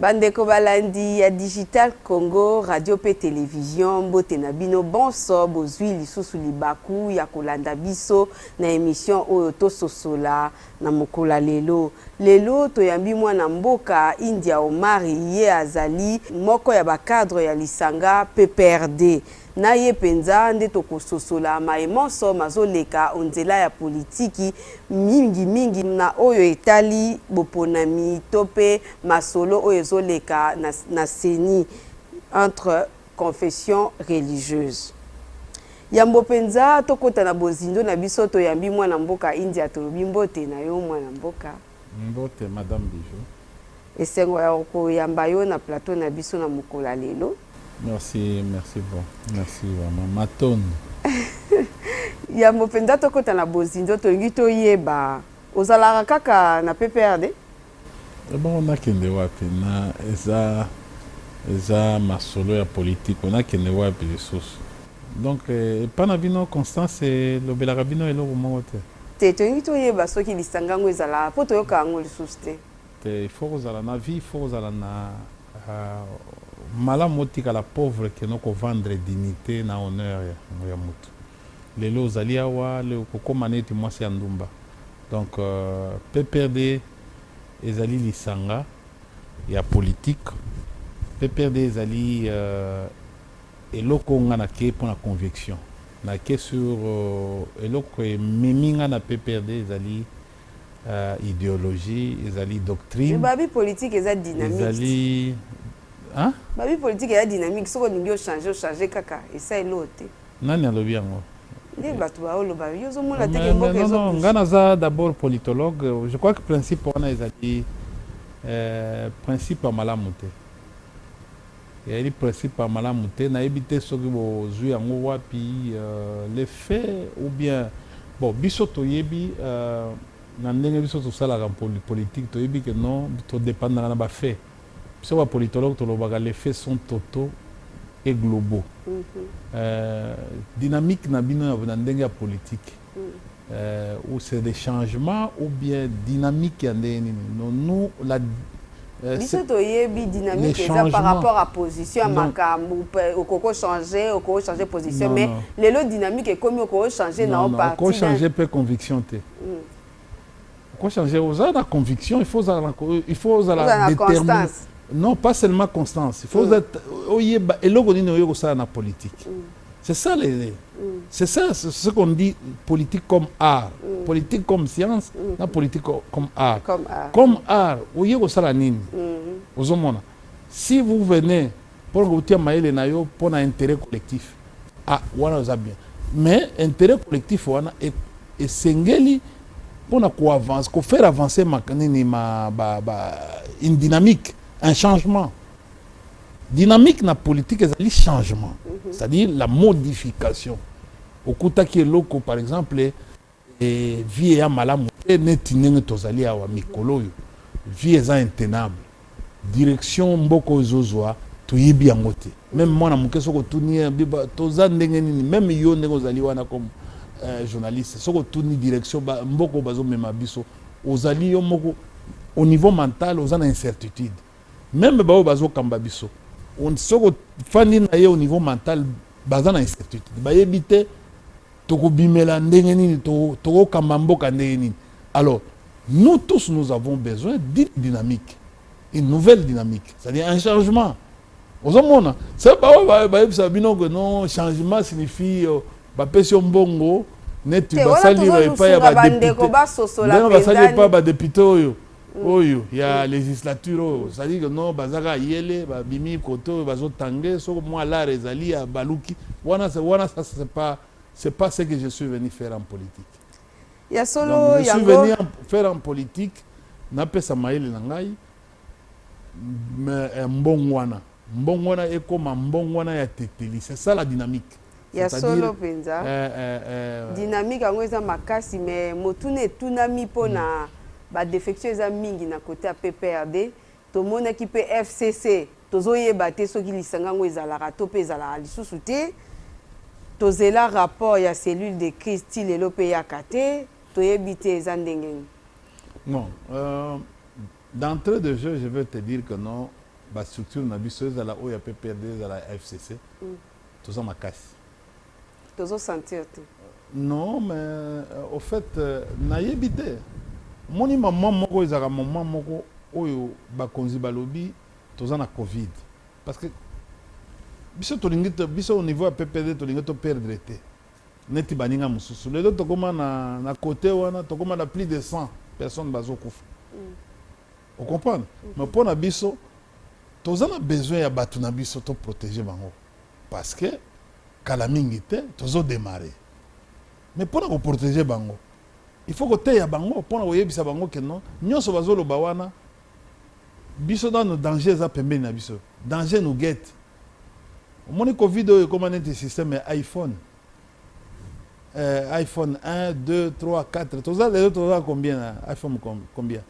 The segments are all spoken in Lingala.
Bandeko balandi ya Digital Congo radio mpe television, mbote na bino bonso. Bozui lisusu libaku ya kolanda biso na emission oyo Tososola na mokolo ya lelo. Lelo toyambi mwana mboka India Omari, ye azali moko ya ba cadres ya lisanga pprd. Na ye mpenza nde tokososola maye manso mazoleka o nzela ya politiki, mingi mingi na oyo etali boponami to mpe masolo oyo ezoleka na na ceni entre confessions religieuses. Yambo mpenza tokota na bozindo na biso, toyambi mwana mboka India, tolobi mbote na yo mwana mboka. Mbote madame Bijou. Esengo ya koyamba yo na plateau na biso na mokolo ya lelo. Merci, merci bon. Merci vraiment. Matondo. Yambo mpenza tokota na bozindo tolingi toyeba ozalaka kaka na PPRD? Ebongo eh nakende wapi na eza eza masolo ya politiko nakende wapi lisusu Donc epa na bino constance elobelaka bino eloko moko te? Te, tolingi toyeba soki lisanga yango ezalaka po toyoka yango lisusu te. Te, il faut kozala na vie, il faut kozala na malamu otikala pauvre que no ko vendre dignite na honneur ya mutu. Lelo ozali awa, le okokoma neti mwasi ya ndumba. Donc PPRD ezali lisanga ya politique, PPRD ezali Eloko nga na ke pona convection na ke sur eloko ememi nga na PPRD ezali ideologie ezali doctrine. Mais babi politique eza dynamique. Ezali hein. Babi politique eza dynamique soki olingi o changer o changer kaka esali loo te. Nani alobi yango? Nde batu ba o loba yo ozo mona te ke mboka ezo bouger. Nga naza d'abord politologue je crois que principe wana ezali principe ya malamu te. Ezali principe ya malamu te, nayebi te soki bozui yango wapi, le fait ou bien bon biso toyebi na ndenge biso tosalaka politique toyebi que non to dependaka na ba faits, biso ba politologues tolobaka les faits sont totaux et globaux, dynamique na bino na ndenge ya politique euh, ou c'est des changements ou bien dynamique ya ndenge nini non nous la euh, biso toyebi dynamique eza par rapport à position ya makambo okoki kochange okoki kochange position mais lelo dynamique ekomi okoki kochange nao parti okochange mpe conviction te mm. Ko changer oza na conviction il faut ozala na il faut ozala Ozala na determiné. constance. Non, pas seulement constance. Il faut ozala oyeba eloko nini oyo kosala na politique. C'est ça les c'est ça c'est ce qu'on dit politique comme art, politique comme science, na politique co- comme art. Comme art. Comme art, oye kosala nini? Ozomona. Si vous venez Pona kotia mayele na yo pona interet collectif ah wana eza bien mais interet collectif wana esengeli pona ko avance ko faire avancer ma nini ma ba ba une dynamique un changement dynamique na politique ezali changement mhm. c'est-à-dire la modification okutaki eloko par exemple vie eya malamu te neti ndenge tozali awa mikolo oyo vie eza intenable direction mboka oyo ezozwa toyebi yango te meme mwana moke soki otuni ye biba toza ndenge nini meme yo ndenge ozali wana comme euh, journaliste soki otuni direction ba, mboka oyo bazomema biso ozali yo moko au niveau mental oza na incertitude meme baoyo bazokamba biso soki ofandi na ye au niveau mental baza na incertitude bayebi te Toko bimela ndenge nini to toko kamba mboka ndenge nini alors nous tous nous avons besoin d'une dynamique une nouvelle dynamique c'est à dire un changement ozo mona c'est ba oyo ba yebisa bino que non changement signifie euh, ba pesi yo mbongo neti ba sali epai ya ba depute ndenge ba sali epai ya ba depute oyo oyo ya legislature oyo ozali que non baza kaka yele babimi kote oyo bazotange soko mwa lar ezali ya baluki wana wana ça c'est pas c'est pas ce que je suis venu faire en politique ya solo Donc, je suis yango venu en- faire en politique napesa mayele na ngai me- eh, mbongwana mbongwana ekoma mbongwana ya teteli c'est ça la dynamique Ya solo penza. Eh, eh, eh. Dynamique yango eza makasi mais motuna etunami mpo na mm. ba defection eza mingi na kote ya PPRD tomonaki mpe FCC tozoyeba te soki lisanga yango ezalaka to mpe ezalaka lisusu te tozela rapport ya cellule de crise ti lelo mpe eyaka te toyebi te eza ndenge nini non euh, d'entrée de jeu je veux te dire que non bastructure na biso ezala oyo ya pprd ezala ya fcc mm. Toza makasi. Tozo sentir te. Non mais euh, au fait euh, nayebi te. Moni maman moko ezaka maman moko oyo bakonzi balobi toza na Covid parce que biso tolingi biso au niveau ya PPD tolingi to perdre te. Neti baninga mosusu lelo tokoma na, na kote wana tokoma na plus de 100 personnes bazokufa mm. O comprendre? Mais mpo na biso toza na besoin ya batu na biso to proteger bango parce que kala mingi te tozo demarrer mais mpo na ko proteger bango il faut koteya bango mpo na koyebisa bango que non nyonso bazoloba wana biso nano danger eza pembeni na biso danger nous guette omoni covid oyo ekoma neti système ya iphone euh, iphone 1 2 3 4 toza lelo toza combien na iphone combien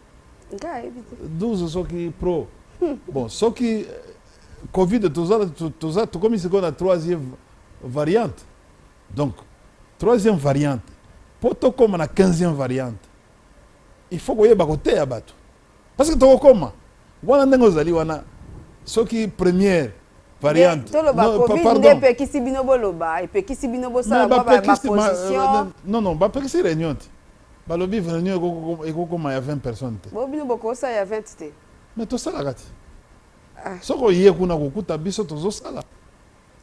12 soki pro bon soki euh, covid toza tokomi sikoyo na troisième variante donc troisième variante mpo tokóma na quinzième variante il faut koyeba koteya bato parce que tokokóma wana ndenge ozali wana soki première variante epekisi bino boloba epekisi bino bosala baposition non non bapekisi réunion te Balobi reunion eko koma ya 20 personnes te. Bo bino boko sa ya 20 te. Mais to sala kati. Ah. Soko ye kuna ko kuta biso tozo sala.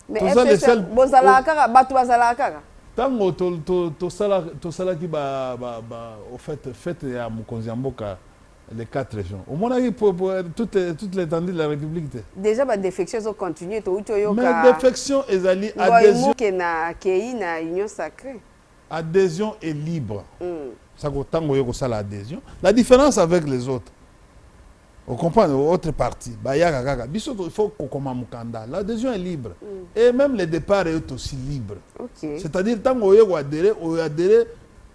Mais toza les seuls. Bo sala kaka batu ba sala kaka. Tango to to to sala to sala ki ba ba ba au fait fête ya mokonzi ya mboka les quatre régions. Au moins pour, pour toute toute l'étendue de la République te. Déjà ba défections ont continué to uto yoka. Mais défection ezali adhésion. Ngo ke na kei na union sacrée. Adhesion est libre saka otanga oye kosala adhesion la difference avec les autres o comprendre autre parti bayaka kaka biso il faut kokoma mokanda l'adhesion est libre mm. et même le départ est aussi libre okay. c'est-à-dire ntango oye koadere oadere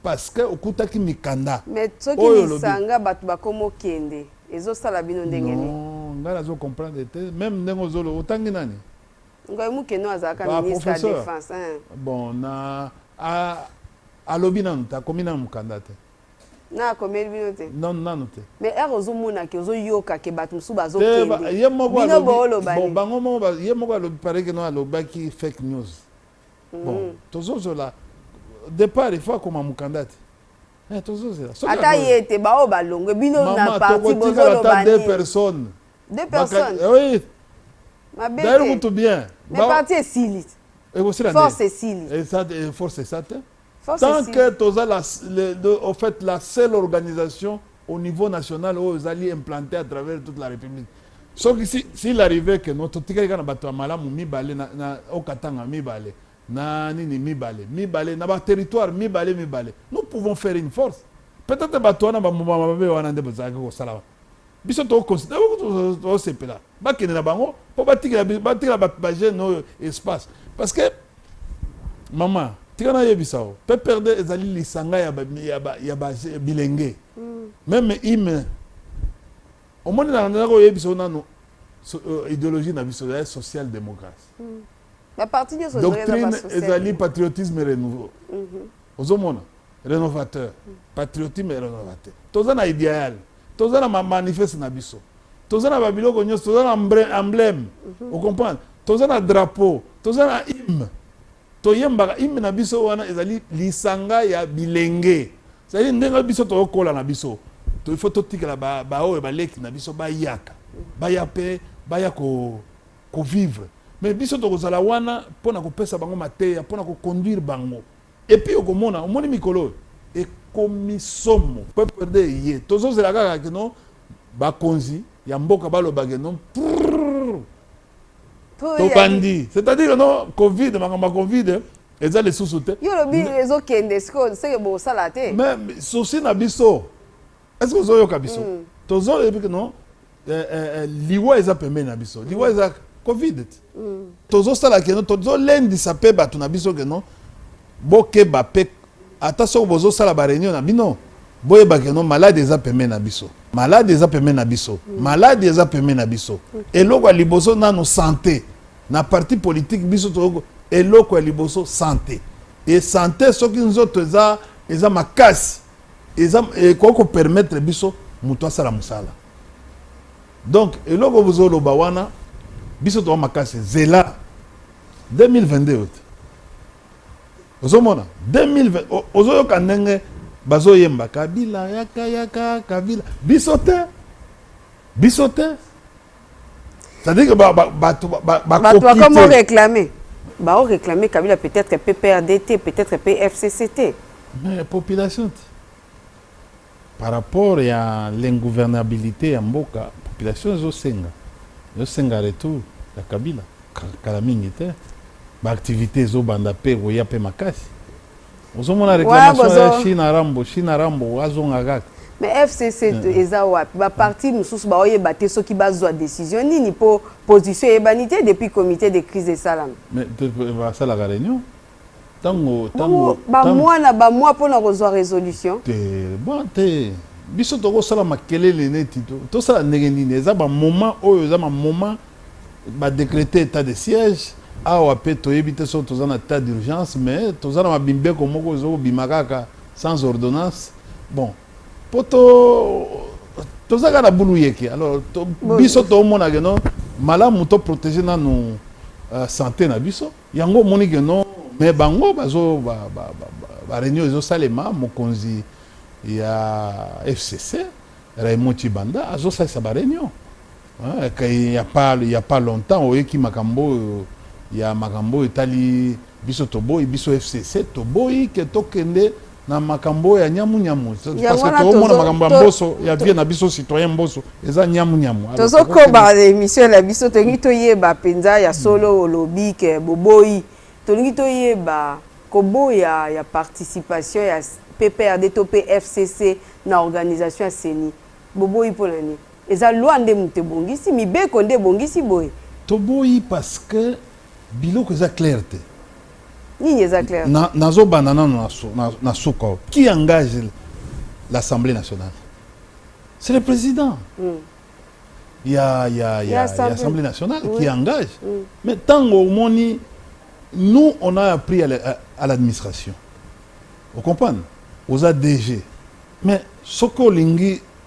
parce que okutaki mikanda mais soki lisanga bato bakoma okende ezosala bino ndenge nini ngai nazo comprendre te même ndenge ozolo otangi nani Ngoy Mukeno azalaka Ba ministre ya professeur. defense. hein. bon na a- alobi nanu te akomi nanu mokanda te Na akomeli bino te. nanu nanu te Mais heure ozomona ke ozoyoka ke bato mosusu Te, ba- ye moko bazokende. Bino alobi- booloba bon, nini? bango moko ba- ye moko alobi pare kino alobaki fake news bon tozozela départ il faut akoma mokanda te Eh, tozozela Soki Ata ako- ye te baoyo balongwe bino na Maman, parti tokotikala bozoloba ata deux nini? personnes deux personnes eh oui mabe d'ailleurs kutu bien mais parti esili ekosila force esili eh, force esa te tant que toza la, le, de, au fait la seule organisation au niveau national oyo ezali implanté à travers toute la république soki si, s'il arrivait que no totikali kaka na bato ya malamu mibale na, na okatanga mibale na nini mibale mibale na baterritoire mibale mibale nous pouvons faire une force peut-être bato wana bambuma mabe wana nde bazalaki kosala biso tosepela bakende na bango mpo batikela bajeune oyo espace parce que mama tika nayebisa yo pprd ezali lisanga ya bilenge mm. meme ime omoni na nzela koyebisa yo nanu euh, idéologie na biso ya social démocratie mm. ba parti nyonso doctrine ezali patriotisme renouveau mhm. ozomona renovateur mhm. patriotisme et renovateur toza na idéal toza na manifeste na biso toza na babiloko nyonso toza na emblème mhm. ocomprendre toza na drapeau toza na hymne toyembaka hymne na biso wana ezali lisanga ya bilenge ezali ndenge biso tokokola na biso il faut totikela baoyo baleki na biso bayaka baya mpe baya ko ko vivre mais biso toko zala wana pona ko pesa bango mateya pona ko conduire bango et puis oko mona omoni mikolo oyo ekomi somo peuple rwandais eye tozo zela kaka que non ba konzi ya mboka ba loba que non to bandi c'est à dire non covid makambo ya covid eza lisusu te yo lobi ezo kende sikoyo seke bosala te mais souci na biso est ce que ozoyoka biso mm. tozoyebi ke non eh, eh, eh, liwa eza pembeni na biso liwa eza covid ti mm. tozosala keno tozolendisa mpe bato na biso keno bokeba mpe ata soki bozosala bareunion na bino boyeba keno maladi eza pembeni na biso maladi eza pembeni na biso mm. maladi eza pembeni na biso eloko ya liboso nano sante na parti politike biso to eloko ya liboso sante e sante soki nzoto eza eza makasi eza ekoki ko permettre biso mutu asala musala donc eloko bozo loba wana biso toa makasi zela 2022 oyo te ozomona 2020 ozoyoka ndenge bazoyemba kabila yaka yaka kabila biso te biso te C'est-à-dire que bato bakoma oreclame baoreclame kabila peut-être mpe prd te peut-être mpe fcc te mais population te par rapport ya l'ingouvernabilité ya mboka population ezosenga ezosenga retour ya kabila kala mingi te baactivité ezobanda mpe ekoya mpe makasi ozomona réclamation ya china rambo china rambo azonga kaka mais fcc eh. eza wapi baparti mosusu baoyeba te soki bazwa décision nini mpo position eyebani te depuis comité de crise esalama basalaka réunion tango tango bamwana bamwa mpo na kozwa résolution te bon te biso tokosala makelele neti tosala ndenge nini eza bamoment oyo eza bamoment Ba decreter etat de siège awa pe toyebi te soki toza na etat d'urgence mais toza na ma mibeko moko ezo bima kaka sans ordonnance bon po to toza kaka na bulu yeke alors to biso to mona que non malamu to proteger nanu uh, sante na biso yango omoni que non mais bango bazo ba, ba, ba, ba, ba réunion ezo salema mokonzi ya FCC Raymond Chibanda azo salisa ba réunion Il ya pas il ya pas longtemps oyeki makambo oyo ya makambo oyo etali biso toboyi biso FCC toboyi ke tokende na makambo ya nyamu nyamu parce que toomona makambo ya mboso ya vie na biso citoyen mboso eza nyamu nyamu tozokoba émission na biso tolingi toyeba mpenza ya solo hmm. olobi ke boboyi tolingi toyeba koboya ya participation ya PPRD to pe FCC na organisation ya CENI boboyi mpo na nini Eza loi nde mutu ebongisi, mibeko nde ebongisi boye. Toboyi parce que biloko eza clair te. Nini eza clair? Na nazo banda nano na, na, na suka. Qui engage l'Assemblée nationale? C'est le président. Mm. Il y a, il y a, il y a, il y a Assemblée nationale oui. qui engage. Mm. Mais tant au moni, nous, on a appris à l'administration. Vous comprenez Aux ADG. Mais ce que l'ingui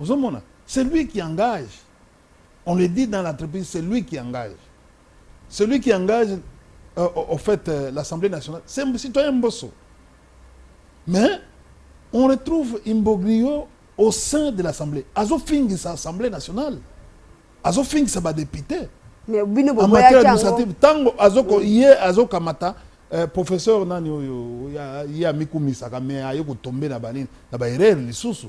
Ozomona celui qui engage on le dit dans l'entreprise celui qui engage celui qui engage euh, au fait euh, l'Assemblée nationale c'est un citoyen Mbosso mais on retrouve Imbogrio au sein de l'Assemblée azofingisa Assemblée nationale azofingisa badepute Mais bino en matière boboyaki yango administrative ntango azoko ye azokamata eh, professeur nani oyo ya- ye amikumisaka me aye kotombe na banini na baerreur lisusu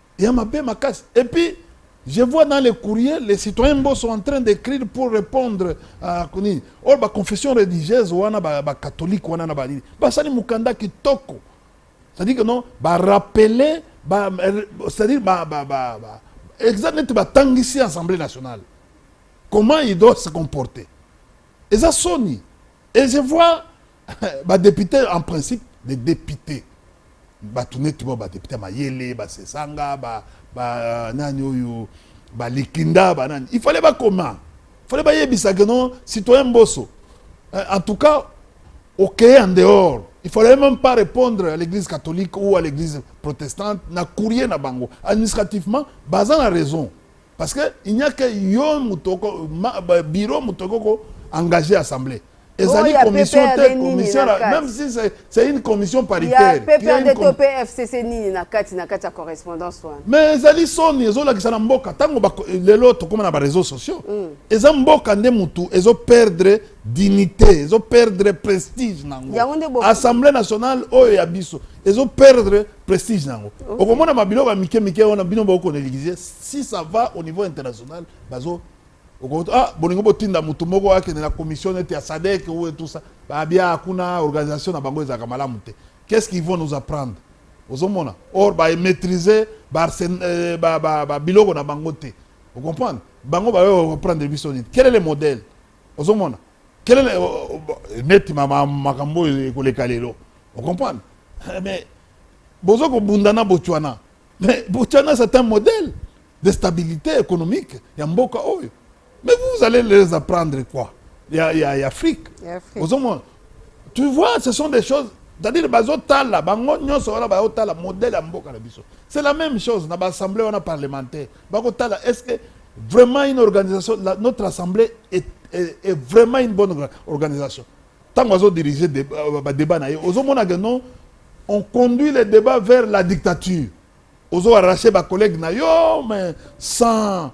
ya mabe makasi et puis je vois dans les courriers les citoyens mbo sont en train d'écrire pour répondre à kuni or ba confession religieuse wana ba, ba catholique wana na banini basali mukanda kitoko c'est-à-dire que non ba rappeler ba c'est-à-dire ba ba ba, ba exact neti batangisi assemblée nationale comment il doit se comporter eza soni et je vois ba depute en principe les depute bato neti ba badepute ya mayele basesanga ba, ba euh, nani oyo balikinda banani il fallait bakoma fallait bayebisa ke non citoyen mboso euh, en tout cas okeye en dehors il fallait même pas répondre à l'église catholique ou à l'église protestante na courrier na bango administrativement baza na raison Parce que il n'y a que yo mutoko bureau mutoko ko engager assemblée. Ezali oh, commission te commission même si c'est une commission paritaire. Ya PPRD to PFCC nini na kati na kati ya correspondance wana. Mais ezali soni ezolakisa na mboka tango lelo tokoma na ba réseaux sociaux. Mm. Eza mboka nde mutu ezo perdre dignité ezo perdre prestige nango. Assemblée nationale oyo ya biso ezo perdre prestige na yango okay. okomona mabiloko ya mike mike wana bino baokoneligise si ça va au niveau international bazo okoto ah bolingo botinda motu moko akende na commission neti ya sadek ou tout ça babia kuna organisation na bango ezalaka malamu te qu'est ce qu'ils vont nous apprendre ozomona or bamaîtrise euh, babiloko na bango te ocomprendre bango bayo baprendre biso nini quel est le modèle ozomona kelele neti makambo oyo ekoleka lelo ocomprendre eh, mais bozo kobunda na botswana mais botswana c'est un modèle de stabilité économique ya mboka oyo mais vous allez les apprendre quoi ya, ya, ya afrique ozomona tu vois ce sont des choses c'est-à-dire bazotala bango nyonso wana bazotala modèle ya mboka na biso c'est la même chose na baassemblée wana parlementaire bako tala est ce que vraiment une organisation la, notre assemblée est, est, est vraiment une bonne organisation ntango azo dirige euh, badébat na ye ozomona ke non on conduit le débat vers la dictature ozo arrache bacollègue na yo mais sans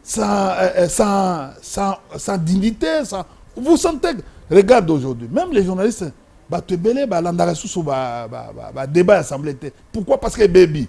sans, euh, euh, sans, sans, sans dignité sans... vous sentez regarde aujourd'hui même les journalistes bato ebele balandaka susu badébat ba, ba, ba, ya assemblée te pourquoi parce que ebebi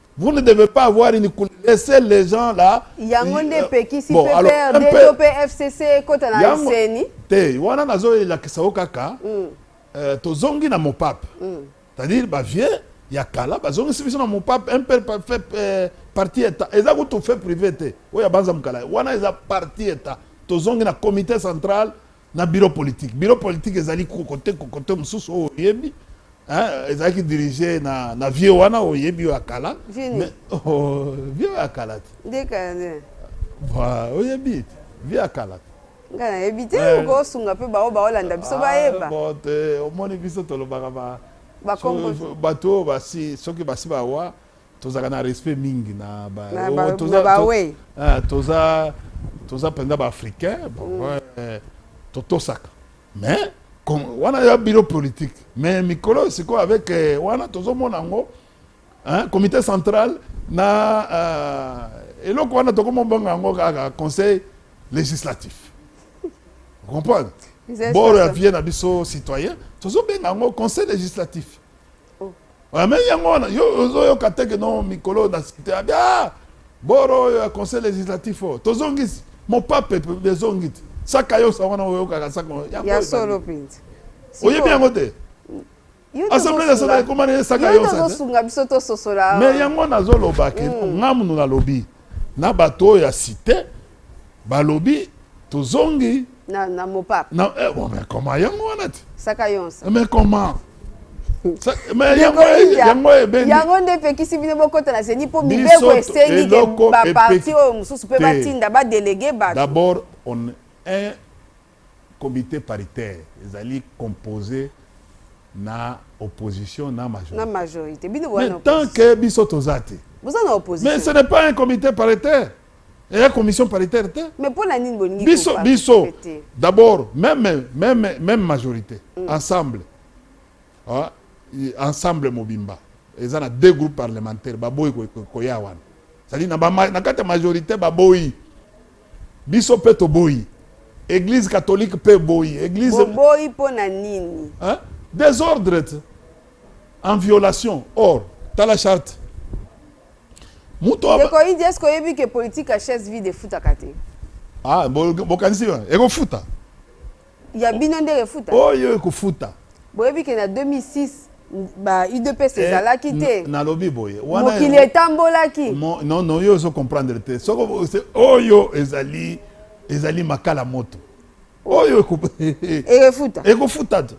Vous ne devez pas avoir une couleur. Laissez les gens là. Yango nde epekisi bon, PPRD to pe FCC ekota na eseni. Te, wana nazo elakisa yo kaka. Mm. Euh, tozongi na mopape. Mm. C'est-à-dire ba vieux ya kala bazongisi biso na mopape un peu fait euh, parti état. Eza kutu fait privé te. Oyo abanza mukala. Wana eza parti état. Tozongi na comité central na bureau politique bureau politique ezali kokote kokote mosusu oyo oyebi ezalaki dirige na, na vieux wana oyebi oyo akala oh, vieux akala te oyebi te vieux akala te nga nayebi te eh. okosunga mpe baoyo baolanda biso ah, bayeba omoni biso tolobaka bato oyo basi soki basi bawa tozalaka na respect mingi na ba Na oh, ba- toza- na ba to- we. Ah, toza toza mpenza baafricain totosaka mais com- wana ya biro politique mais mikolo oyo sikoyo avec eh, wana tozomona yango hein, comité central na ah, eloko wana tokomobanga yango kaka conseil législatif comprendre Ils installent boro ya ça. vie na biso citoyen tozobenga yango conseil législatif Ah, mais yango wana yo ozoyoka te ke no mikolo oyo nasikite abi ah, boro oyo ya conseil législatif oyo tozongisi mopape ezongi te saka yosa wana oyokaka saka ya solo mpenza oyebi yango te assemblée nationale ekoma na ye saka yosasunga biso tososola mais yango nazolobaki mm. nga munu nalobi na bato oyo ya site balobi tozongi na, na mopap na, eh, bon, mais comment yango wana ti saka yonsa mais comment yango nde epekisi bino bokota na zeni mpo mibeko esengi baparti oyo mosusu mpe batinda badelege bato d'abord on un Comite paritaire ezali compose na opposition na majorite. Na majorite. Bino boza na opposition. Mais tant que biso toza te. Boza na opposition. Mais ce n'est pas un comité paritaire. Et la commission paritaire te. Mais pour la nini bolingi biso biso d'abord même même même majorité mm. ensemble. Ah, ensemble mobimba. Ils ont deux groupes parlementaires baboyi koya wana. C'est-à-dire na ba na kata majorité baboyi. Biso pe toboyi. Eglise catholique pe boyi. Eglise Boboyi mpo na nini? Hein? Desordre te. En violation. Or, tala charte. Mutu aba- Ndeko Idi, est-ce que oyebi que politique ya chaise vide efutaka te? Ah, bo- bokanisi ekofuta? ya bino nde refuta oyo ekofuta boyebi ke na 2006 ba udps eh, ezalaki te nalobi boye mokili etambolaki nono yo ozo comprendre te soko oyo ezali ezali makala moto oyo ekofuta ekofuta te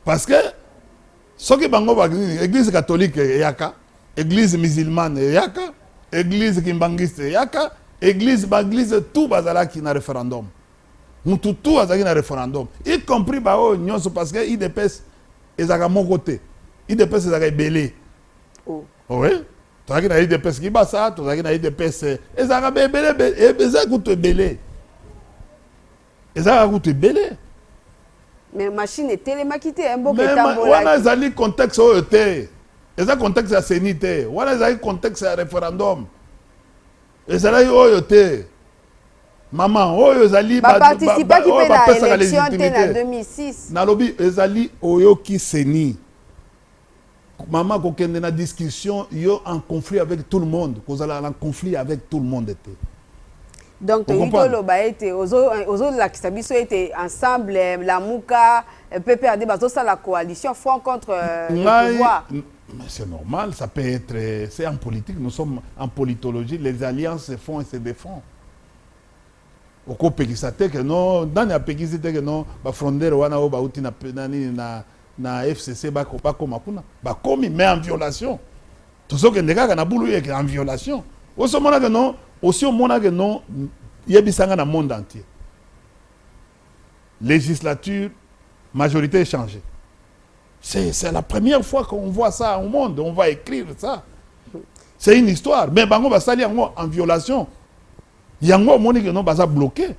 parce que soki bango banini église catholique eyaka église musulmane eyaka église kimbanguiste eyaka église baeglise tout bazalaki na référendum Mutu tout azalaki na referendum, y compris ba oyo nionso parce que udps ezalaka moko te, udps ezalaka ebele. Oh. Oui. Tozalaki na udps Kibasa, tozalaki na udps ezalaka ba ebele, ezalaka kutu ebele. Ezalaka kutu ebele. Mais machine etelemaki te, mboka etambolaki. Wana ezali contexte oyo te. Eza contexte ya CENI te. Wana ezali contexte ya referendum. ezalaki oyo te mama oyo ezali baparticipaki mpe na élection te na 2006 nalobi ezali oyoki seni mama kokende na discussion yo en conflit avec tout le monde kozala na conflit avec tout le monde te donc tolingi toloba ete ozolakisa biso ete ensemble lamuka pprd bazosala coalition front contre euh, le pouvoir Mais c'est normal, ça peut être, euh, c'est en politique, nous sommes en politologie, les alliances se font et se défont. okopekisa te ke no nani apekisi te ke no bafrondere wana oyo bauti na, na, na, na fcc bakoma kuna bakomi mais en violation tozokende kaka na bulu yeke en violation osomonake no osi omonake no yebisanga na monde entier legislature majorite e changer c'est c'est la première fois qu'on voit ça au monde on va écrire ça c'est une histoire mais bango basali yango en violation yango omoni que non baza bloqué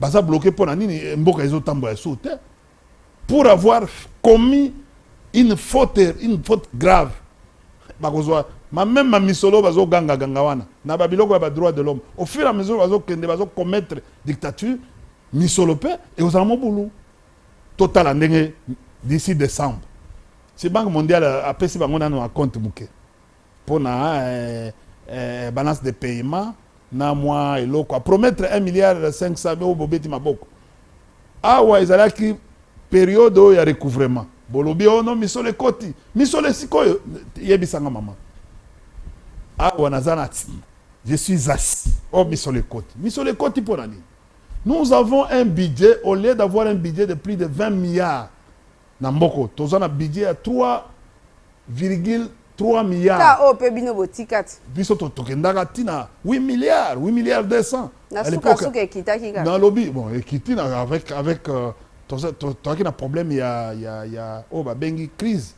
baza bloqué mpo na nini mboka ezotambola ya suu te pour avoir commis une faute, une faute grave bakozwa ma même ma misolo bazo ganga ganga wana na ba biloko ya ba droit de l'homme au fur et à mesure bazo kende bazo commettre dictature misolo pe et ozala mobulu totala ndenge d'ici décembre si banque mondiale apesi bango nano a compte muke pona balance de payement na mwa eloko a promettre 1 milliard 500 oyo bobeti maboko awa ezalaki periode oyo ya recouvrement bolobi ono oh misolo ekoti misolo esikoyo yebisanga mama awa naza na je suis assis o oh, misolo ekoti misolo ekoti mpo na nini nous avons un budget au lieu d'avoir un budget de plus de 20 milliards Na mboka oyo toza na budget ya 3,3 milliards. Ka oyo pe bino botikati. Biso to tokendaka ti na 8 milliards, 8 milliards 200. Na suka suka ekitaki kaka. Na lobi bon ekiti na avec avec euh, toza to toaki na problème ya ya ya oyo ba bengi crise.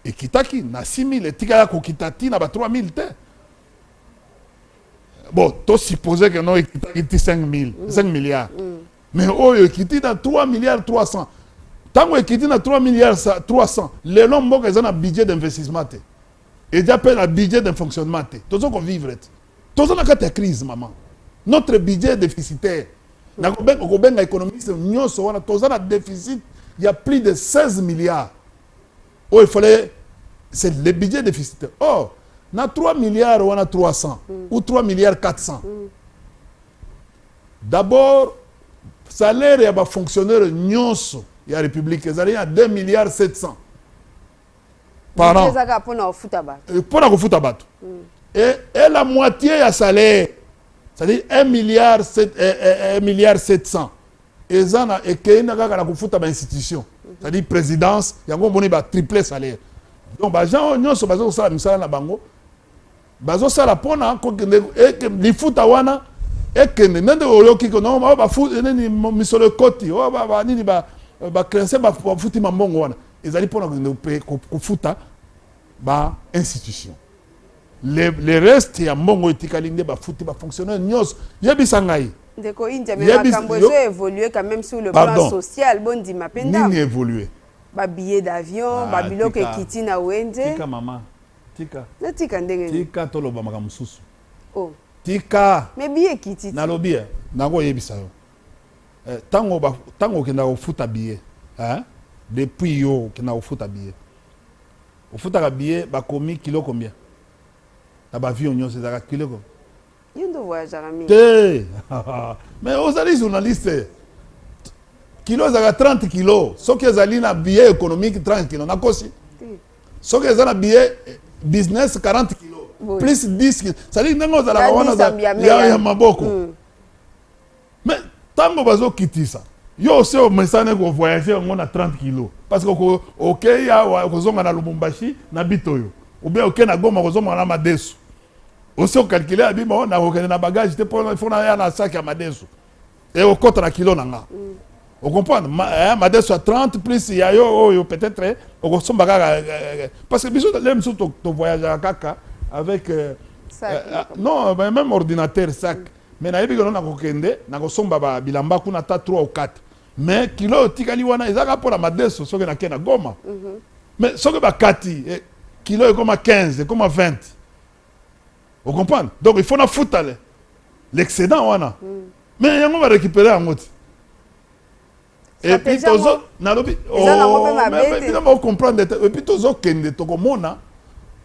Ekitaki na 6000 etikala kokita ti na ba 3000 te. Bon, to supposer que non ekitaki ti 5000, 5 milliards. Mm. Mais oyo ekiti na 3 milliards 300 tango ekiti na 3 milliards 300 lelo mboka eza na budget d'investissement te eza mpe na budget de fonctionnement te toza kovivre te toza na kati ya crise maman notre budget déficitaire nakobenga kobenga économiste nyonso wana toza na déficit ya plus de 16 milliards oyo efale c'est le budget déficitaire or oh, na 3 milliards wana 300 mm. ou 3 milliards 400 mm. D'abord, salaire ya ba fonctionnaires nionso ya Republique ezali ya 2 milliards 700 par Budget an eza kaka mpona kofuta bato Eh, mpo na kofuta bato et, et la moitié ya salaire c'est-à-dire 1 milliard 7, eh, eh, eh, milliard 700 eza na ekei na kaka na kofuta ba institution c'est-à-dire présidence yango omoni ba triple salaire donc bagent oyo nyonso baza kosala misala na bango Bazo sala pona ko kende eke lifuta wana ekende nende oyoki ko non ba fu nini misolo ekoti o ba ba nini ba ba crense ba futi mambongo wana ezali pona ko kende ko futa ba institution le, le reste ya mbongo etikali nde bafuti bafonctionnaire nyonso yebisa ngai ndeko india me makambo ezo évolue quand même sur le Pardon. plan social bondima mpe ndambo nini évolue babillet d'avion ah, babiloko ekiti na wenze tika mama tika natika ndenge nini tika toloba makambo mosusu oh. tika mais biye ekiti nalobi eh, nango oyebisa yo eh, tango ba, tango okenda kofuta biye eh? depuis yo okenda kofuta biye ofutaka biye bakomi kilo combien na bavio nyonso ezalaka kilo combien Yo ndo voyagaka mingi. Te. Mais ozali journaliste. Kilo ezalaka 30 kilo. Soki ezali na billet économique 30 kilo nakosi. Soki eza na billet eh, business 40 kilo. Plus 10 kilo. C'est-à-dire ndenge ozalaka wana ya maboko. Mm. Mais tango bazo kitisa yo ose omesane ko voyage yango na 30 kilo parce que okei awa okozonga na Lubumbashi na bitoyo ou bien okei na Goma okozonga na madesu osi okalkile ya bima oh, nakokende na bagage te mpo fo naya na saki ya madesu e okota na kilo na nga mm. okomprendre ma, eh, madesu ya 30 plus ya yo oyo oh, peut-être okosomba kaka eh, eh, eh, parce que biso le mosusu tovoyageaka kaka avec euh, euh, ah, non même ordinateur sac mm. Mais nayebi que no nako kende nako somba ba bilamba kuna ata trois ou quatre mais kilo oyo etikali wana eza kaka pona madesu soki nake na goma mais soki ba kati kilo ekoma 15 ekoma 20 o comprendre donc il faut na futa le l'excedent wana mais yango ba recuperer yango ti Et puis tozo nalobi oh mais bino ba comprendre et puis tozo kende toko mona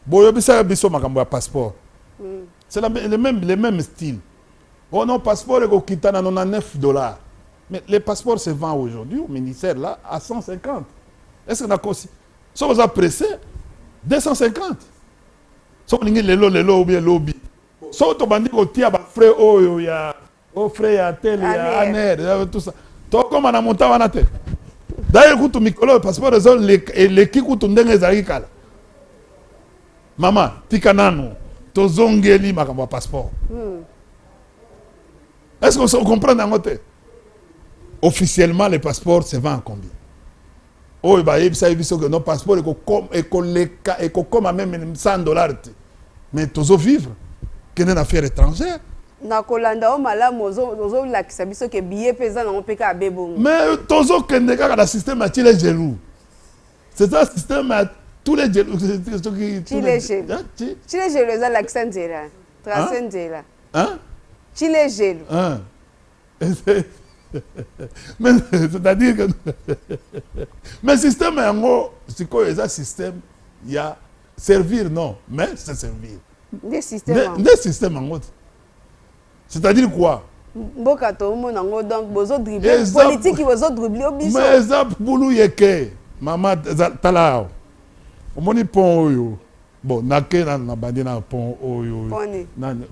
boyo bisa biso makambo ya passeport. Hmm. C'est la le même le même style. Oh non passeport eko kitana 99 dollars. Mais les passeports se vendent aujourd'hui au ministère là à 150. Est-ce que na kosi? So oza pressé 250. So lingi lelo lelo ou bien lobi. So to bandi ko tia ba frais oyo ya o frais ya tele ya aner ya tout ça tokoma na montant wana te d'ailleurs kutu mikolo oyo passeport ezo eleki kutu ndenge ezalaki kala mama tika nanu tozongeli makambo ya passeport hmm. est ce que ocomprendre yango te officiellement le passeport se vend en combien oyo bayebisaki biso que non passeport ekoleka ekokoma meme 100 dollars te mais tozo vivre kende na fiere étrangère na kolanda yo malamu ozolakisa biso ke biye mpe eza nango mpe kaka be bongo mais tozokende kaka na système ya chile gelou c'est un système ya tous les gelou chile gelou eza lakisa nzela trace nzela chile gelou mais c'est-à-dire que mais système yango sikoyo eza système ya servir non mais c'est servir nde système yango. nde système yango te c'est-à-dire quoi mboka tomona yango donc bozo dribble Eza- politiki bozo dribble yo biso mais eza bulu yeke mama za- tala awa omoni pont oyo Bon na ke nanu na bandi na pont oyo nani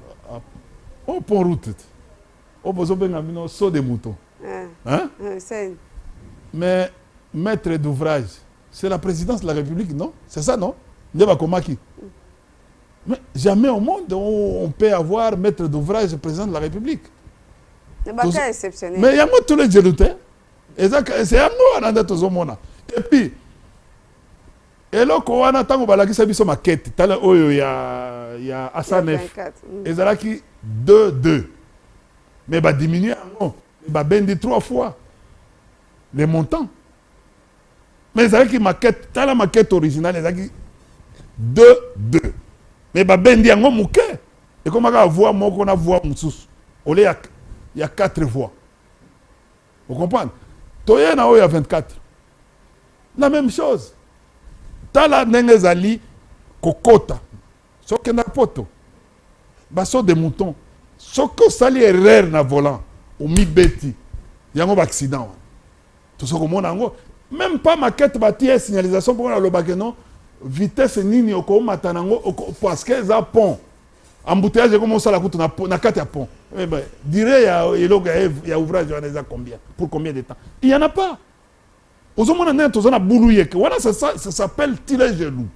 oh pont route oh bozo benga bino saut de mouton hein hein hein mais maître d'ouvrage c'est la présidence de la république non c'est ça non nde bakomaki mais jamais au monde on, on peut avoir maître d'ouvrage président de la république baka exceptionnel mais yango tous les jelu te eza c'est yango wana nde tozomona et puis Eloko wana tango balakisa biso maquette tala oyo ya ya Asanef mm. ezalaki 2 2 mais ba diminuer yango ba bendi 3 fois les montants mais ezalaki maquette tala maquette originale ezalaki 2 2 mais ba bendi yango moke ekomaka voix moko na voix mosusu ole ya ya 4 voix Vous comprenez Toye na oyo ya 24. La même chose. Tala ndenge ezali kokota. Soki na poto. Baso de mouton. Soki osali erreur na volant, omibeti. Yango ba accident wana. Tozo komona yango. Même pas maquette ba tie signalisation pour na lobake non vitesse nini okomata nango parce que eza pont. Embouteillage comme on sala kutu na na kati ya pont. Eh ben, dire ya eloko ya il y a ouvrage wana eza combien pour combien de temps? Il y en a pas. Ozomona nani toza na bulu yeke. Wana ça ça s'appelle tirer jaloux.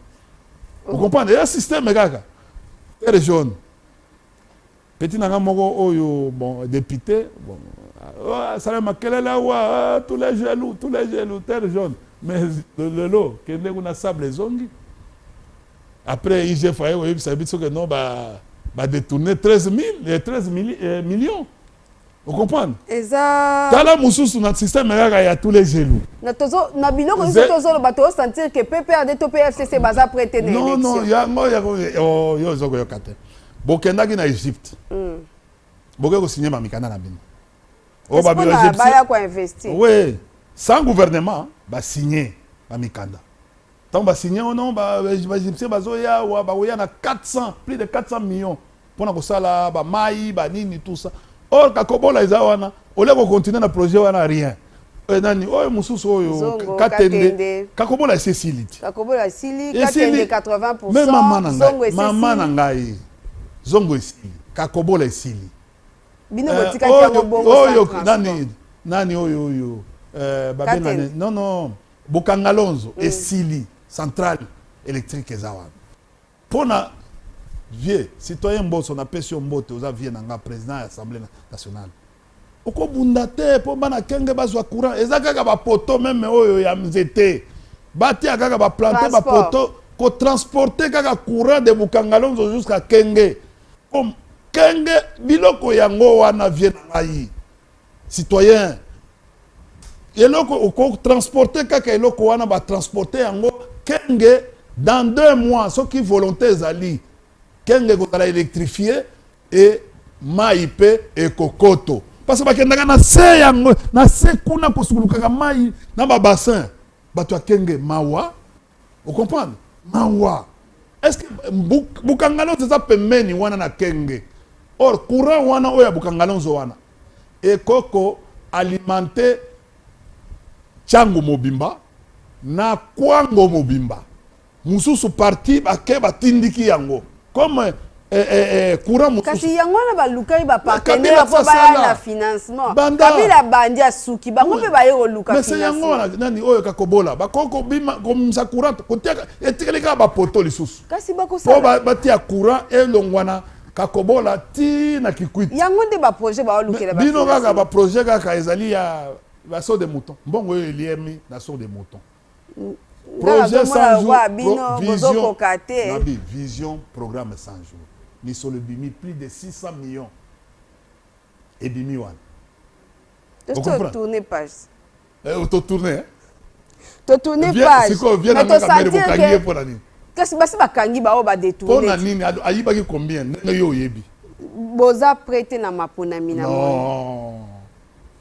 Vous comprenez? Ya système kaka. Terre jaune. Petit nanga moko oyo bon député bon ah, sala makelele awa ah, tous les jaloux tous les jaloux terre jaune mais lelo kende kuna sable ezongi Après IGF aye koyebisa biso que non ba ba détourner 13 000 13 mili, eh, millions. Vous comprenez Eza Tala mususu na système kaka ya tous les jaloux. Na tozo na biloko biso tozo ba to sentir que PPRD to PFCC baza prêter na élection. Non non, ya ngo ya ko oh, yo zo ko yokate. Bokendaki na Égypte. Mm. Boke ko signer mamikana na bino. Oh ba bino Égypte. Ba ya ko investir. Oui. Sans gouvernement ba signer mamikanda. Tango ba signer wana ba egyptiens bazo ya wa ba koya na 400 plus de 400 millions pona ko sala ba mayi ba nini tout ça or ka kobola eza wana au lieu ko continuer na projet wana rien Eh, nani oyo mosusu oyo katende kakobola esi esili ti esili me mama na ngai mama na ngai zongo esili kakobola esili eh, oyo nani nani oyo oyo eh, babengani non non Bokangalonzo esili centrale electrique eza wana pona vieux citoyen Mboso na pesi yo mbote oza vieux na nga president ya assemblée nationale okobunda te mpo bana kenge bazwa courant eza kaka bapoto meme oyo ya nzete batia kaka baplante bapoto kotransporte kaka courant de bukangalonzo jusqu'à kenge kenge biloko yango wana vie na ngai citoyen eloko oko transporter kaka eloko wana ba transporter yango kenge dans deux mois soki volonté ezali kenge ekozala électrifie et mai mpe ekokoto parce que bakendaka na se yango na se kuna kosukulukaka mai na babassin bato ya kenge mawa O comprendre? Mawa. Est ce que Buk, Bukangalonzo eza pembeni wana na Kenge. Or courant wana oyo ya Bukangalonzo wana ekoki ko alimenter Tshangu mobimba na Kwango mobimba. Mosusu partie bake batindiki yango. comme eh, eh, eh, courant mosusu kasi yango wana balukaki bapartenaire mpo baya na financement kabila bandi asuki bango mpe baye koluka mese yango wana nani oyo kakobola bakoki kobima komisa courant kotiaka etikali kaka bapoto lisusu kasi bakosala mpo batia courant elongwana kakobola ti na kikwiti yango nde baprojet baolukela bino kaka baprojet kaka ezali ya baso de mouton mbongo oyo eliemi na sur de mouton projet 100 jours bino bozokoka te nabi vision programme 100 jours misolo ebimi plus de 600 millions ebimi wana totourne page eh, totourne totourne page mais tosentir ke kasi basi bakangi baoyo badetourne mpo na nini ayibaki combien ndenge yo oyebi boza prete na maponami na moi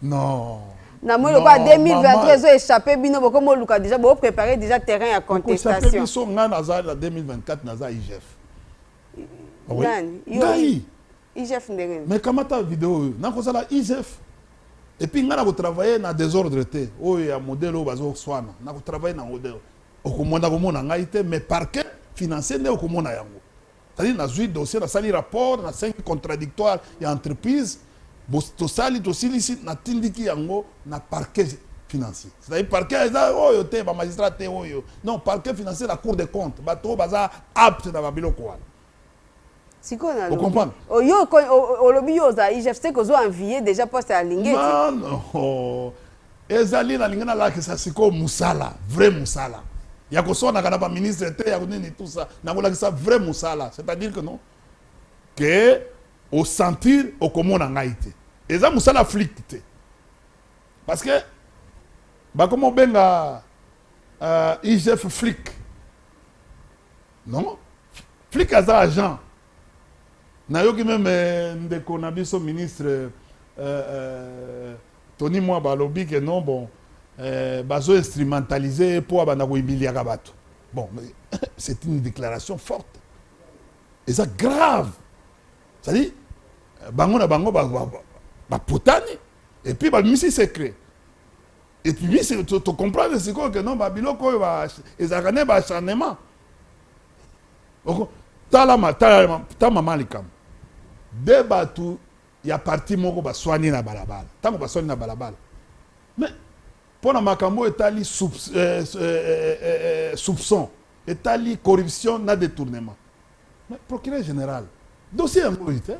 Non. na moi lokola 2023 ezo échappe bino boko moluka déjà bo préparer déjà terrain ya contestation biso nga naza na 2024 naza IGF ah nani ngai IGF ndenge mais kamata vidéo oyo nakozala IGF et puis nga nako travailler na désordre te oyo ya modèle oyo bazo swana nako travailler na modèle okomona komona ngai te mais parquet financier nde okomona yango C'est à dire nazui dossier nasali rapport na sengi contradictoire ya entreprise tosali tosilisi natindiki yango na parquet financier c'est à dire parquet eza oyo te ba magistrat te oyo non parquet financier na cour de compte bato oyo baza apte na babiloko wana sikoyo na comprendre oyo olobi yo oza igf te kozwa envie déjà poste ya lingeti non non Ezali nalingi nalakisa sikoyo mosala vrai mosala ya koswanaka na baministre te ya nini tusa nakolakisa vrai mosala c'est-à-dire que non ke osentir okomona ngai te eza mosala flic te parce que bakoma obenga uh, igf flic non flic aza agent nayoki meme euh, ndeko na biso ministre uh, uh, Tony Mwaba alobi que non bon euh, bazo instrumentaliser ye po abanda ko humiliaka bato. Bon, mais c'est une déclaration forte. Eza grave. C'est-à-dire, bango na bango ba, ba, ba, ba potani et puis ba misi secret. Et puis misi to, to comprendre sikoyo que non ba biloko oyo ba ezalaka ne ba acharnement. Oko tala ma tala ma ta mama likambo. De bato ya parti moko baswani na balabala ntango baswani na balabala mais mpo na makambo oyo etali soupçon etali corruption na détournement mais procureur général dossier yango oyo te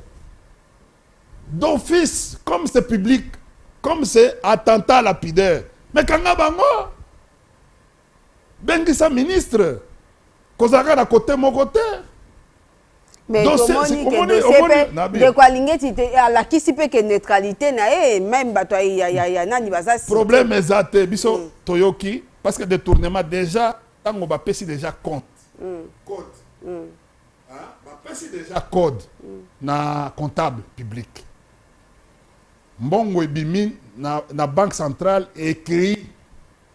d'office comme c'est public comme c'est attentat à la pudeur mais kanga bango bengisa ministre kozalaka na kote moko te mais tomoni ke dossier mpe ndeko alingeti te alakisi mpe ke neutralité na ye meme bato ya nani baza problème eza te biso mm. toyoki parce que détournement déjà ntango bapesi déjà compte mm. code mm. bapesi déjà code na comptable public mbongo ebimi na, na banque centrale écrit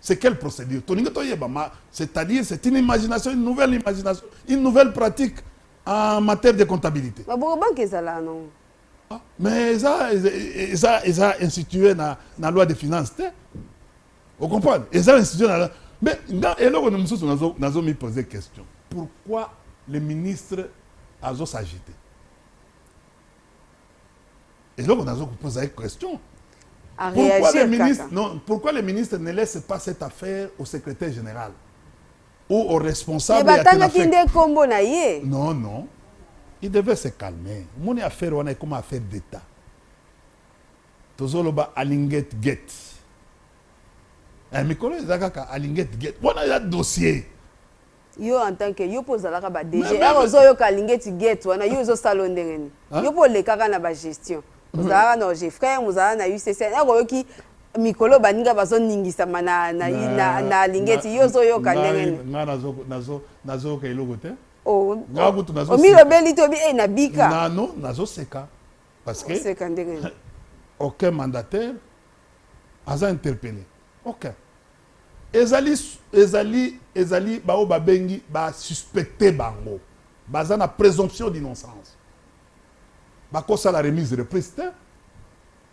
C'est quelle procédure Tolingi toyeba ma c'est-à-dire c'est une imagination une nouvelle imagination une nouvelle pratique en matière de comptabilité. Ba boko banque ezala non. Ah, mais eza eza eza institué na na loi de finances te. Vous comprenez Eza institué na mais nga eloko mosusu nazo nazo mi poser question. Pourquoi le ministre azo s'agiter eloko nazo kopoza ye question A pourquoi le réagir ministre kaka. non pourquoi le ministre ne laisse pas cette affaire au secrétaire général ou au Mais responsable ya batangaki Kenafec? nde kombo na ye. non non il devait se calmer omoni affaire wana ekoma affaire d'état tozoloba alinget get eh, mikolo eza kaka alinget get wana eza dossier yo en tant que yo mpo ozalaka ba DG ere ozoyoka alingeti gate wana yo ozosala yo ndenge nini yo mpo olekaka na bagestion ozalaka na oge frère mozala na ucc ere oyoki mikolo baninga bazoningisama na, na, na, na alingeti yo ozoyoka ndenge nini ngai nazoyoka eloko te oh, ngai kutu omilobeli tobi e na bika nano nazoseka parce que oseka ndenge nini aucun mandataire aza interpellé aucun Ezali ezali ezali ba oyo ba bengi ba suspecter bango baza na presomption d'innocence bako sala remise reprise te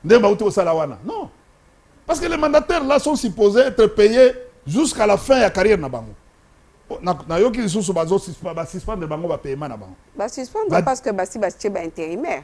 ndenge bawuti kosala wana non parce que les mandataires là sont supposés être payés jusqu'à la fin ya carrière na bango nayoki lisusu bazo ba suspendre bango ba paiement na bango ba suspendre parce que basi batie ba intérimaire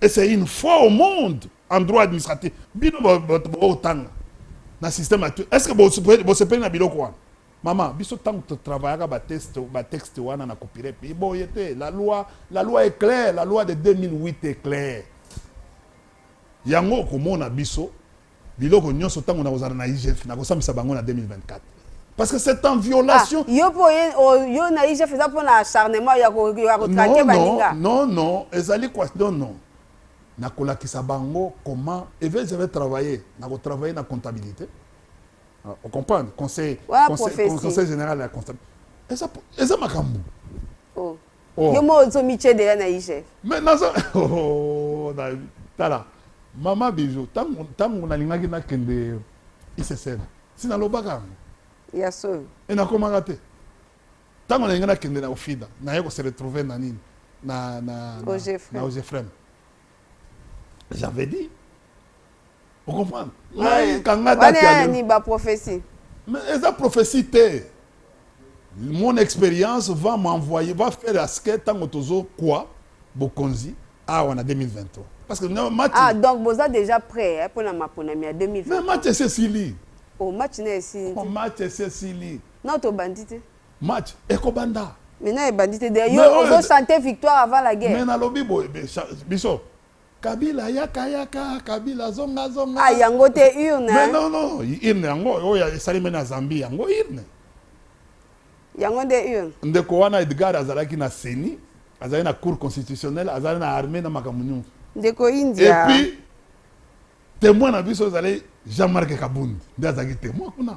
Et c'est une fois au monde en droit administratif. Bino bato bokotanga na système actuel. Est-ce que bosepeli na biloko wana? Mama, biso tango to travaillaka ba test ba texte wana na copyright pays boye te. La loi, la loi est claire, la loi de 2008 est claire. Yango okomona biso biloko nionso tango na kozala na IGF na kosambisa bango na 2024 parce que c'est en violation ah, yo po oh, yo na IGF eza pona acharnement ya ko ya ko traquer baninga non non ezali quoi non non na kolakisa bango comment evel j'avais travaillé na ko travailler na comptabilité ah, on comprend conseil ouais, conseil, conseil général ya comptabilité eza eza makambo oh. Oh. Yo moko ozo mitie deja na IGF. Mais naza oh, na tala mama bijo tango tango nalingaki nakende ICCN si nalobaka yango. Ya solo. Et nakomaka te. Tango nalinga nakende na Ofida, naye ko se retrouver na nini? Na na na, na Ogefrem. J'avais dit. Vous comprenez Mais kanga date ya lelo. ni ba prophétie. Mais eza prophétie te. Mon expérience va m'envoyer, va faire à ce que tango tozo quoi bokonzi awa na 2023. Parce que non match. Ah donc boza déjà prêt hein, pour la maponami ya 2023. Mais match c'est Sili. Oh match na Sili. Oh match c'est Sili. Non to bandite. match ekobanda maintenant ebandi te de yo ozo chante victoire avant la guerre mais nalobi boye biso kabila yaka yaka kabila zonga zonga ah yango te urne mais non non urne yango oyo esalemi na zambie yango urne yango nde urne ndeko wana edgar azalaki na ceni azali na cour constitutionnelle azali na armée na makambo nyonso ndeko india epuis témoin na biso ezali jean marc kabundi nde azalaki témoin kuna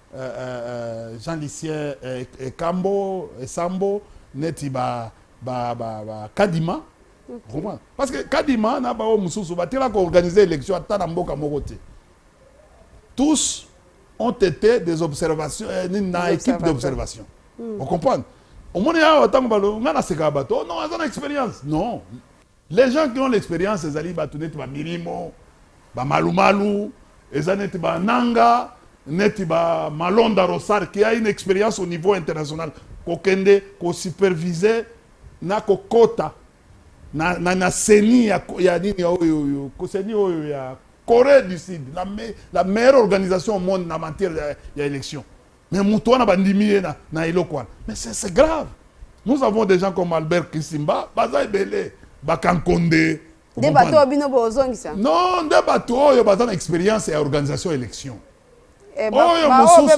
eh, eh, eh, Jean Lucien eh, Ekambo, eh, Esambo, eh, neti ba, ba, ba, ba Kadima. Okay. Parce que Kadima, na ba mususu, ba tela ko organiser élection ata na mboka moko te. Tous ont été des observations, eh, une équipe d'observation. Mm. On comprend Au moins, il y a autant de gens qui ont une expérience. Non. Les gens qui ont l'experience ezali bato neti ba milimo ba malumalu eza neti ba nanga neti ba malonda rosar qui a une experience au niveau international kokende ko superviser na kokota na, na, na seni ya, ya nini ya oyo oyo koseni oyo ya corée du sud la, me, la meilleure organisation au monde na matière ya, ya élection Mais mutu wana bandimi ye na, na eloko wana. Mais c'est grave. Nous avons des gens comme Albert Kisimba, baza ebele, bakankonde. Nde bato oyo bino bozongisa? Non, nde bato oyo baza na experience ya organisation election. Eh, oyo mosusu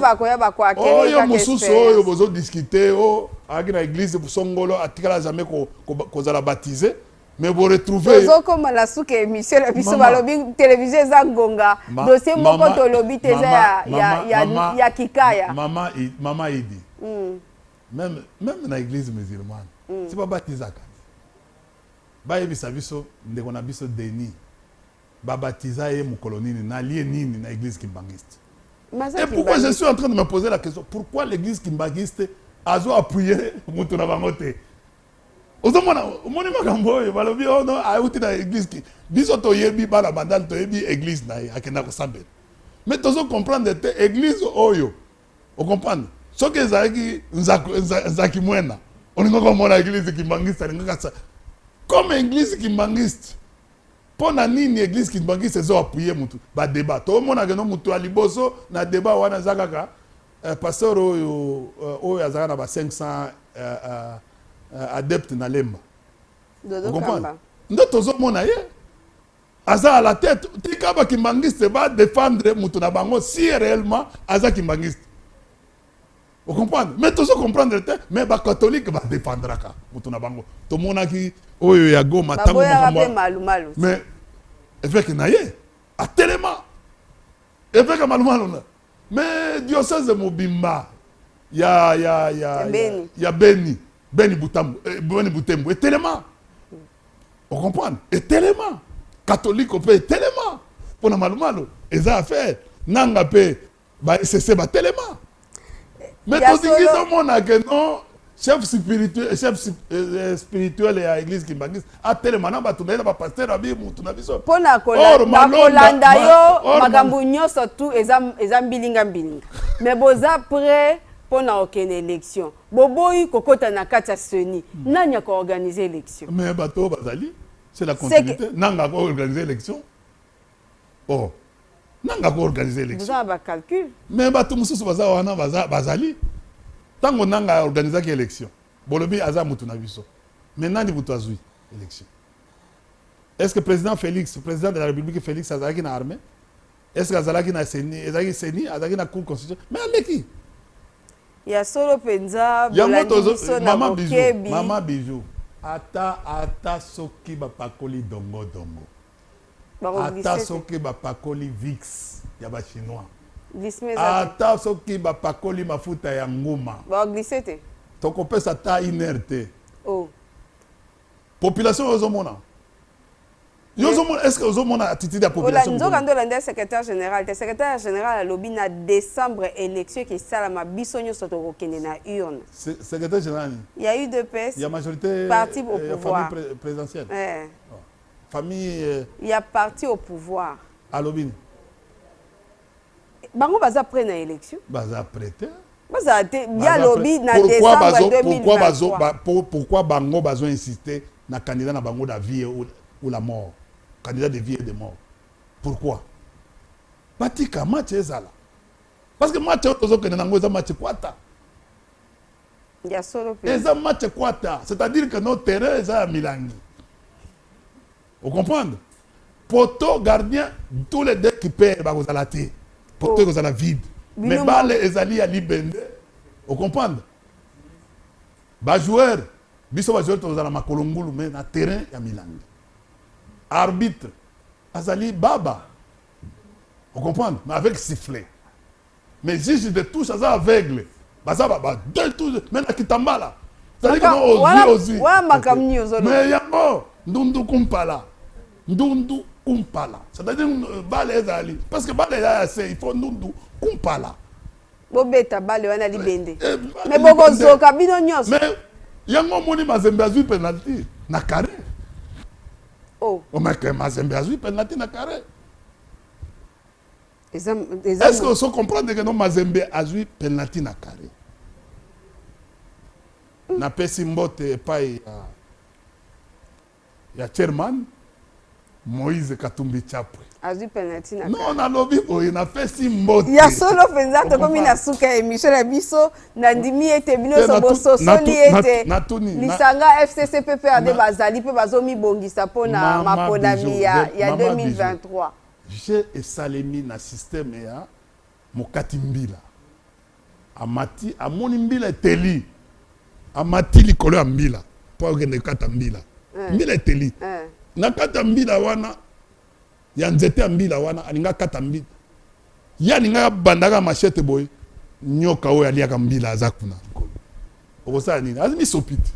oyo mosusu oyo bozodiskute o oh, ayaki na eglise songolo atikala jamais kozala baptise mais bo retrouver tozokoma na suka émission na biso balobi télévision eza ngonga dossier moko tolobi te eza ya, ya, ya, mama, ya kikaya mama, mama idi mm. même, même na église musulmane mm. si babatizaka bayebisa biso ndeko na biso denis babatiza ye mokolo nini na lie nini na église kimbanguiste et pourquoi je suis en train de me poser la question pourquoi l'église kimbanguiste azo appuyer moto na bango te ozomona omoni makambo oyo balobi oh no auti na eglise ki biso toyebi bana bandal toyebi eglise na ye akenda kosambela me tozo comprendre te eglise oyo ocomprendre soki ezalaki nzaki mwena olingaki omona eglise kimbangiste alingaka sa comme eglise kimbangiste mpo na nini eglise kimbangiste ezo apuye motu badeba tomonaka no motu ya liboso na deba wana eza kaka Eh, pasteur oyo euh, oyo azalaka na ba 500 euh, euh, euh, adepte na lemba Dodo Okomprendre? Kamba. nde tozomona ye aza à la tête tika bakimbangiste badefendre moto na bango si réellement aza kimbangiste ocomprendre mais tozo comprendre te mais bacatholique badefendraka moto na bango tomonaki oyo ya goma ntango baboyaka makambo mpe ya- malumalu mais évêque na ye atelema évêque ya malumalu na Mais diocèse mobimba ya ya ya ya Beni Beni Butambo eh, Beni Butembo etelema o comprendre etelema katoliko mpe etelema mpo na malumalo eza affaire nanga mpe ba esese batelema mais tolingi tomona ke non chef spirituel chef euh, spirituel ya église kimbanguiste atelema na bato na ye na bapasteur abi mutu na biso mpo na kolanda yo makambo nyonso tu eza, eza mbilinga mbilinga mais boza près mpo na okende élection boboyi kokota na kati ya seni hmm. nani akoorganize élection mais bato oyo bazali c'est la continuité nanga akoorganize élection oh nanga ko organiser election boza ba calcul mais batu mususu baza wana baza bazali tango nanga organiser ki election bolobi aza mutu na biso mais nani mutu azui election est-ce que président Félix président de la République Félix azalaki na armée est-ce que azalaki na CENI ezalaki CENI azalaki na cour constitution mais aleki ya solo penza bolandi biso na bokebi mama bijou ata ata soki bapakoli dongo dongo ata soki bapakoli vix ya ba chinois ata soki bapakoli mafuta ya nguma tokopesa ata une heure te oh. population oyo ozomona yo ozomona est ce que ozomona attitude ya population nzoka nde olanda secrétaire général te secrétaire général alobi na décembre élection ekisalama biso nyonso tokokende na urne secrétaire général ya udps ya majorité parti au eh, pouvoir présidentielle eh. famille euh, ya parti au pouvoir alobi nini bango baza près na élection baza près te bazala te ye alobi na décembre 2023 pourquoi bango bazo insiste na candidat na bango na vie ou, ou la mort candidat de vie et de mort pourquoi batika match ezala Parce que match oyo tozokende nango eza match kwata. Ya solo pe. Eza match kwata, c'est-à-dire que notre terrain eza ya milangi. Vous comprenez? Poto gardien tous les deux qui perdent bakozala te. Poto oh. ekozala vide. Mais balle ezali ya libende. Vous comprenez? Ba joueur, biso ba joueur tozala makolo ngulu mais na terrain ya milangi. Arbitre azali baba ocomprendre mais avec sifflet mais juge de touche aza aveugle baza baba deux touche mais na kitambala zali kama ozwi ozwi mais yango ndundu kumpala ndundu kumpala c'est-à-dire euh, bale ezali parce que bale eza ya se il faut ndundu kumpala bobeta bale wana libende eh, eh, me bokozoka bino nyonso yango omoni mazembe azwi penalti na carré oh. omeke oh, mazembe azwi penalti na carré est ce que oso comprendre ke no mazembe azwi penalti na carré mm. napesi mbote epai ya ya chairman Moïse Katumbi Chapwe. Azwi penalty na Non, nalobi boye napesi mbote. Ya solo penza tokomi na suka ya emission na biso nandimi ete bino so bososoli ete lisanga FCC PPRD bazali mpe bazomibongisa mpo na maponami ya 2023. Je esalemi na systeme ya Mokati mbila amati, amoni mbila eteli, amati likolo ya mbila mpo akende kokata mbila. Eh. Mbila eteli eh. na kati ya mbila wana ya nzete ya mbila wana alinga akata mbila ye alingaka abandaka mashete boye nyoka oyo aliaka mbila aza kuna okosala nini azi misopi te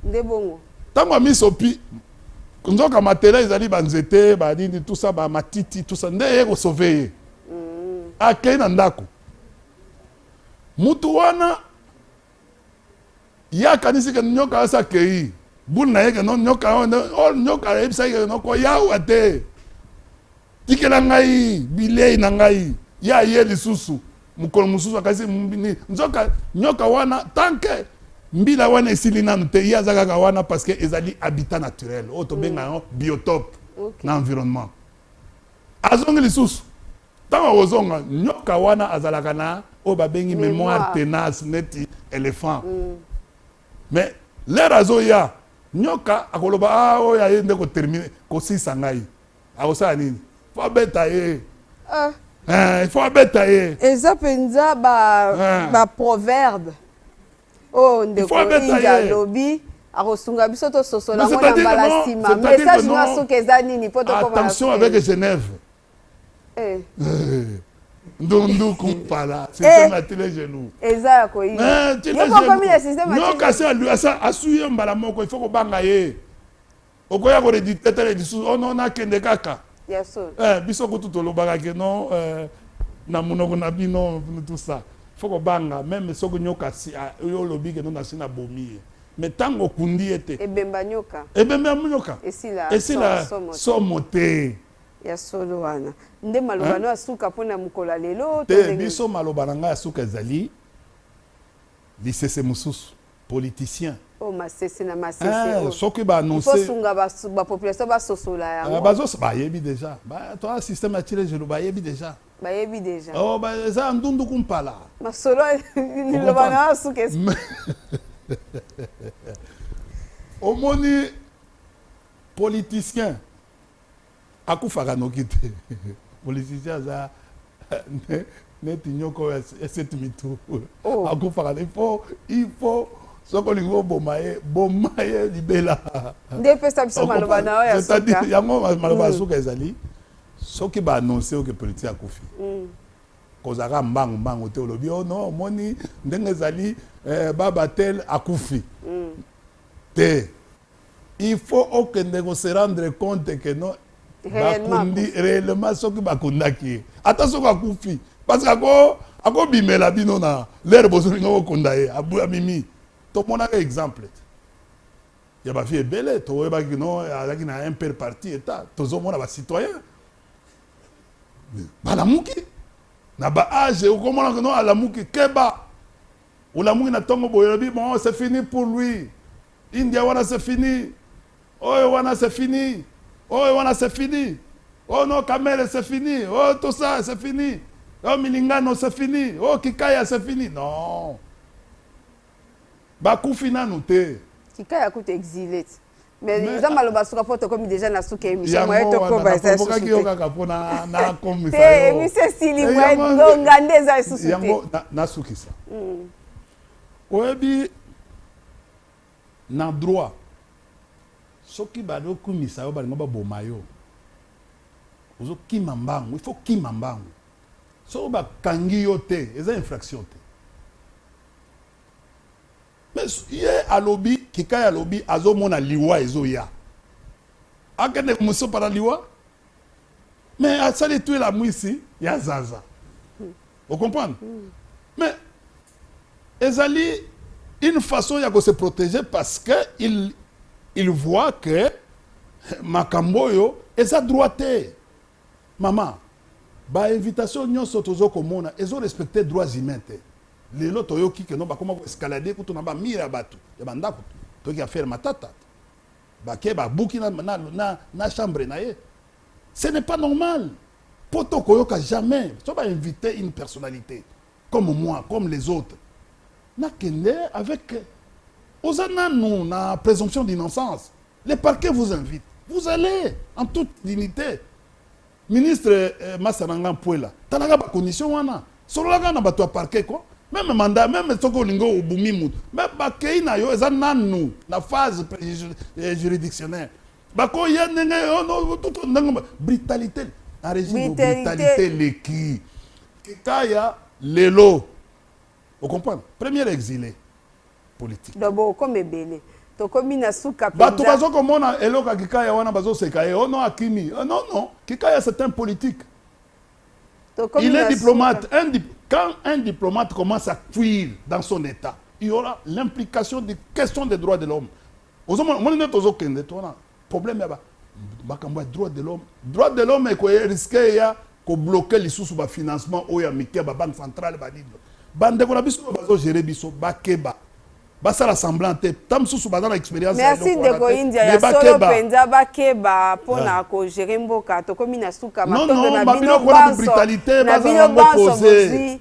nde bongo ntango amisopi nzoka matela ezali banzete banini tusa bamatiti tusa nde ye kosove ye mm. akei na ndako mutu wana ye akanisi ke nyoka asi akei bulu na ye ke no nyoka oh, nyoka ayebisaki ke nokoyawa te Tikela ngai bilei na ngai. Ye aye lisusu mokolo mosusu akasi nini, nzoka nyoka wana tanke mbila wana esili nanu te, ye aza kaka wana parce que ezali habitat naturel oyo tobenga mm. yango biotope okay. na environnement. Azongi lisusu ntango akozonga nyoka wana azalaka na oyo babengi memoire tenace neti elephant mm. mais lere azoya nyoka akoloba ah, oyo aye nde kotermine kosisa ngai akosala nini fo abeta ye ah. eh, il faut abeta ye eza mpenza baproverbe ah. oyo oh, ndeko inja alobi akosunga biso tososola yango na mbala nsima message na soki eza nini mpo tokomaattention avec genève eh. Eh. ndunduku mpala système ya tile genou eza ya koyinokomi na système kasi asui ye mbala moko il faut kobanga ye okoya ko redite tele lisusu oh non nakende kaka eh, biso kutu tolobaka ke non eh, na monoko na bino tout ça fo kobanga meme soki nyoka si ah, yo olobi ke non nasi na bomi ye mais ntango okundi ye te ebemba nyoka ebemba nyoka esila, esila somo te ya solo wana nde maloba no ya suka mpo na mokolo ya lelo te biso maloba na ngai ya suka ezali lisese mosusu politicien Oh, masese na masese eh, oh. soki ba annoncer il faut sunga ba, ba population ba sosola ya ah, ba zo ba yebi déjà ba toi système atire je ba yebi déjà ba yebi déjà oh ba za ndundu kumpala masolo ni lo ba na suke omoni politicien Akufaka noki te politicien aza neti nyoka oyo ya seti mitu oh. akufaka te ifo ifo soki olingi oboma ye boma ye libela nde epesa biso maloba na oyo c'est-à-dire yango maloba ya mm. suka ezali soki baannonce oke politique akufi mm. kozalaka mbangu mbangu te olobi o oh no omoni ndenge ezali eh, baba tel akufi mm. te il faut okende ko se rendre compte que non bakundi réellement soki bakundaki ye ata soki akufi parce que ako akobimela bino na lere bozolinga kokunda ye amimi tomonaka exemple te ya bafi ebele toyebaki no azalaki na un pere parti eta tozomona bacitoyen balamuki na baage okomonaka no alamuki keba olamuki na ntongo boye olobi bon c'est fini pour lui India wana c'est fini oyo wana c'est fini oyo wana c'est fini oh no kamele c'est fini oh tout ça c'est fini oh milingano c'est fini oh kikaya c'est fini non bakufi nanu te kikaya kutu exile ti mais eza maloba suka mpo tokomi deja na suka émission moye tokoba eza susuokaki yo kaka mpo nakomisa te émission esili moye ngonga nde eza lisusu te yango nasukisa mm. Oyebi na droit soki bazo kumisa yo balingo baboma yo ozo kima mbangu il faut kima mbangu soki ba kangi yo te eza infraction te mais ye alobi kikai alobi azomona liwa ezoya akende moso para liwa mais asali tu elamwisi ya zaza hmm. ocomprendre hmm. mais ezali une façon ya ko se protéger parce que il, il voit que makambo oyo eza droit te mama bainvitation nyonso tozo komona ezo respecte droits humains te lelo toyoki keno bakoma koescalade kutu na bamire ya bato ya bandako toyoki affaire matata Bake ba buki na, na, na, na chambre na ye. Ce n'est pas normal. Poto koyoka jamais. So ba inviter une personnalité comme moi, comme les autres. Na kende avec oza nanu na présomption d'innocence. Les parquets vous invitent. Vous allez en toute dignité. Ministre eh, masa na nga mpuela talaka ba condition wana sololaka na bato ya parquet ko meme manda meme soki olingi obumi motu me bakei na yo eza nanu na phase eh, juridictionnaire bakoya ndenge tuto ndenge brutalité na regime brutalité leki kitaya lelo O comprendre? Premier exile politique. Donc bo comme ebele. Tokomi na suka penza. Bato bazo komona eloko ya Kikaya wana bazo seka ye. Oh non akimi. Oh non non. Kikaya c'est un politique. Tokomi Il est diplomate. Un dip... Quand un diplomate commence à fuir dans son état, il y aura l'implication des questions des droits de l'homme. Ozomona moni nde tozokende tona. Problème ya ba makambo ya droit de l'homme droit de l'homme eko risque ya ko bloquer lisusu ba financement oyo ya mike ba banque centrale ba nini ba ndeko na biso bazo gérer biso bakeba basala semblant te ta mosusu baza na expérience merci ndeko india ya solo mpenza bakeba mpo na ah. kogere mboka tokomi na suka matondo na bino banso na bino banso bozwi